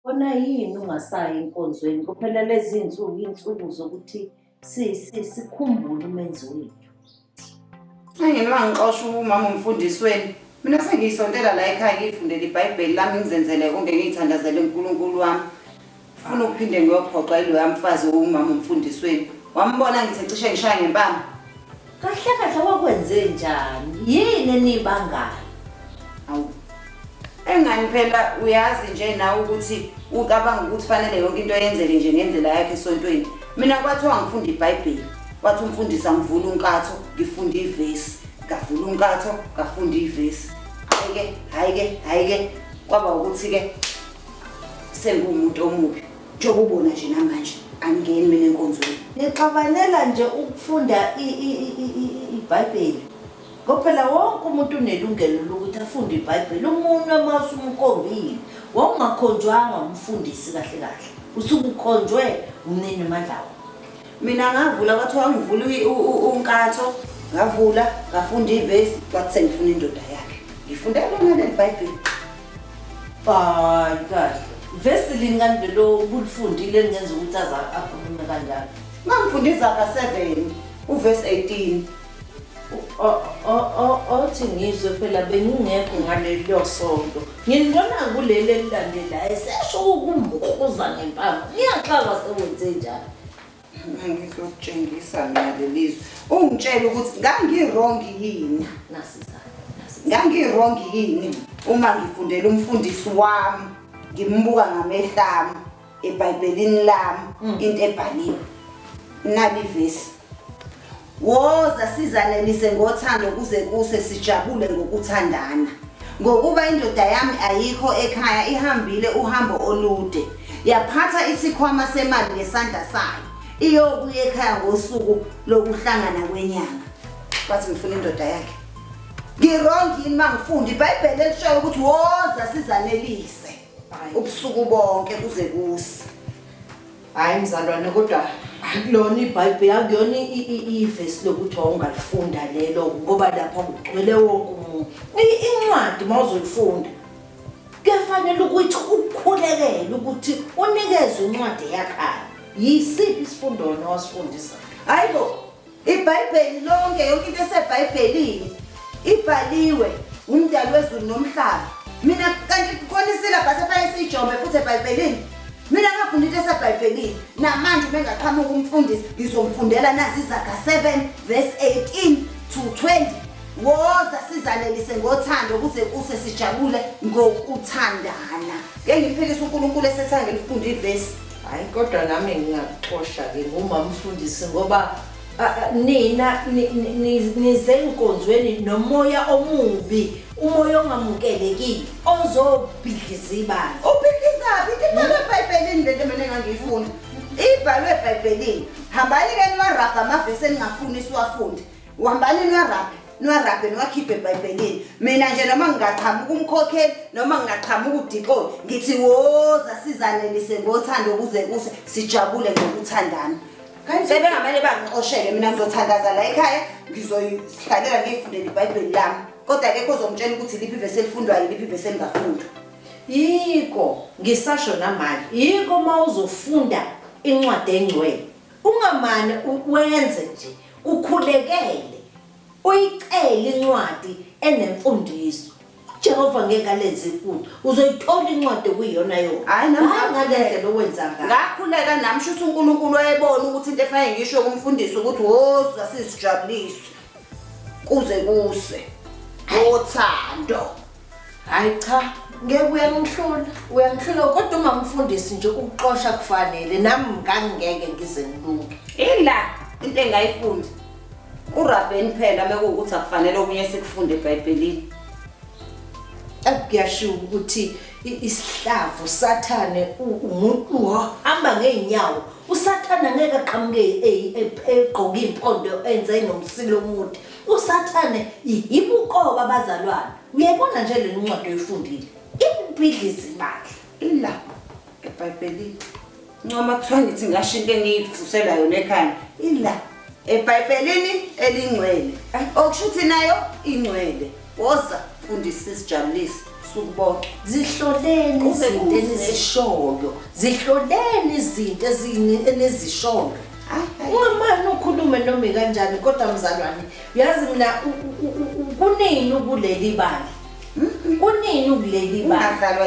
Kona yini ungasayi enkonzweni kuphela lezi nsuku insuku zokuthi si si sikhumbule umenzi wethu. Engene wangixosha umama umfundisweni. Mina sengiyisontela la ekhaya ngiyifundele iBhayibheli lami ngizenzele konke ngiyithandazele uNkulunkulu wami. Funa ukuphinde ngiyophoxa iloya mfazi owumama umfundisweni. Wambona ngithe cishe ngishaya ngempama. Kahle kahle wakwenze njani? Yini enibangayo? Awu. Engani phela uyazi nje nawe ukuthi ucabanga ukuthi fanele yonke into yenzeke nje ngendlela yakhe esontweni. Mina kwathiwa ngifunda iBhayibheli. Wathi umfundisi angivula unkatho, ngifunda ivesi. Ngavula unkatho, ngafunda ivesi. Hayi ke, hayi ke, hayi ke. Kwaba ukuthi ke sengumuntu omubi. Njengoba ubona nje namanje angingeni mina enkonzweni. Ngixabanela nje ukufunda iBhayibheli. Ngoba phela wonke umuntu unelungelo lokuthi afunde iBhayibheli. Umunwe uma usumkombile, wawungakhonjwanga umfundisi kahle kahle. Usuke ukhonjwe umnini amandla wakho. Mina ngavula kwathiwa angivule unkatho, ngavula, ngafunda ivesi, kwathi sengifuna indoda yakhe. Ngifundela lona leli Bhayibheli. Hayi kahle. Vesi lini kanti lelo ubulifundile elingenza ukuthi aza akhulume kanjalo. Ngangifunda izaga 7 uvesi 18. O- o- o- Othi ngizwe phela bengingekho ngalelo sonto. Ngilibona kuleli elilandelayo esesho ukumkhuza ngempama. Ngiyaxaka sewenze njalo. ngizokutshengisa mina lelizwe ungitshela ukuthi ngangirong yini ngangirong yini uma ngifundela umfundisi wami ngimbuka ngamehlo ami ebhayibhelini lami mm. into ebhaliwe nalivesi Woza sizanelise ngothando kuze kuse sijabule ngokuthandana. Ngokuba indoda yami ayikho ekhaya ihambile uhambo olude. Yaphatha isikhwama semali ngesandla sayo. Iyobuya ekhaya ngosuku lokuhlangana kwenyanga. Wathi ngifuna indoda yakhe. Ngirong yini mangifundi iBhayibheli elishayo ukuthi woza sizanelise ubusuku bonke kuze kuse. Hayi mzalwane kodwa akulona ibhayibheli akuyona ivesi lokuthi wawungalifunda lelo ngoba lapha kugcwele wonke umuntu incwadi uma uzoyifunda kuyafanele ukuthi ukukhulekele ukuthi unikezwe incwadi eyakhaya yisiphi isifundo wena wasifundisa hhayi bo IBhayibheli lonke, yonke into eseBhayibhelini ibhaliwe uMdali wezulu nomhlaba. Mina kanti khona isilabhasi efanele siyijombe futhi eBhayibhelini. Mina ngafunda into eseBhayibhelini. Namanje uma engaqhamuka umfundisi ngizomfundela nazi izaga 7 verse 18 to 20. Woza sizanelise ngothando ukuze kuse sijabule ngokuthandana. Ngeke ngiphikise uNkulunkulu esethange lifunde ivesi. hayi kodwa nami ngingakuxosha-ke ngumamfundisi ngoba nina nize nkonzweni nomoya omubi umoya ongamukelekile ozobhidliza ibandla ubhidlizaphi ibhalwe ebhayibhelini le nto mina engangiyifuna ibhalwe ebhayibhelini hambani-ke niwarabha amavesi eningafuni siwafunde uhambani niwarabhe niwarabhe niwakhiphe ebhayibhelini mina nje noma ngingaqhamuka umkhokheli noma ngingaqhamuka udixoni ngithi woza sizanelise ngothando ukuze kuse sijabule ngokuthandana sebengamele bangixoshele mina ngizothandaza la ekhaya ngizoyihlalela ngiyifundela ibhayibheli lami kodwa kekho ozongitshela ukuthi liphi ivesi elifundwayo liphi ivesi elingafundwa yiko ngisasho namanje yiko uma uzofunda incwadi engcwele ungamane wenze nje Ukhulekele, uyicele incwadi enemfundiso. Jehova ngeke alenze iphutha. Uzoyithola incwadi okuyiyona yona. Hhayi nami Hhayi ngale ngakhuleka. ndlela owenza ngayo. Ngakhuleka nami shuthi uNkulunkulu wayebona ukuthi into efanele ngisho kumfundisi ukuthi woza sizijabulise kuze kuse wothando. Hayi cha, ngeke uyangihlula. Uyangihlula kodwa uma mfundisi nje ukuxosha kufanele nami ngangeke ngize ngilunge. Ila into engayifundi. Urabheni phela mekuwukuthi akufanele okunye sikufunde eBhayibhelini. Akuyashiwo ukuthi isihlavu sathane umuntu ohamba ngeenyawo usathane angeke aqhamuke egqoke impondo enze nomsilo omude usathane yibuqoba abazalwane uyayibona nje le ncwadi oyifundile ibhidliza imali ilapho ebhayibhelini ncoma kuthiwa ngithi ngasho into engiyivusela yona ekhanda ila ebhayibhelini elingcwele okusho ukuthi nayo ingcwele Woza fundisi sijabulise ubusuku bonke zihloleni Kube izinto kuhle. enizishoyo zihloleni izinto ezini- enizishoyo Hayi, hayi. ungamane ukhulume noma ikanjani kodwa mzalwane uyazi mina u- u- u- u- kunini ukuleli bali kunini ukuleli bali ungadlalwa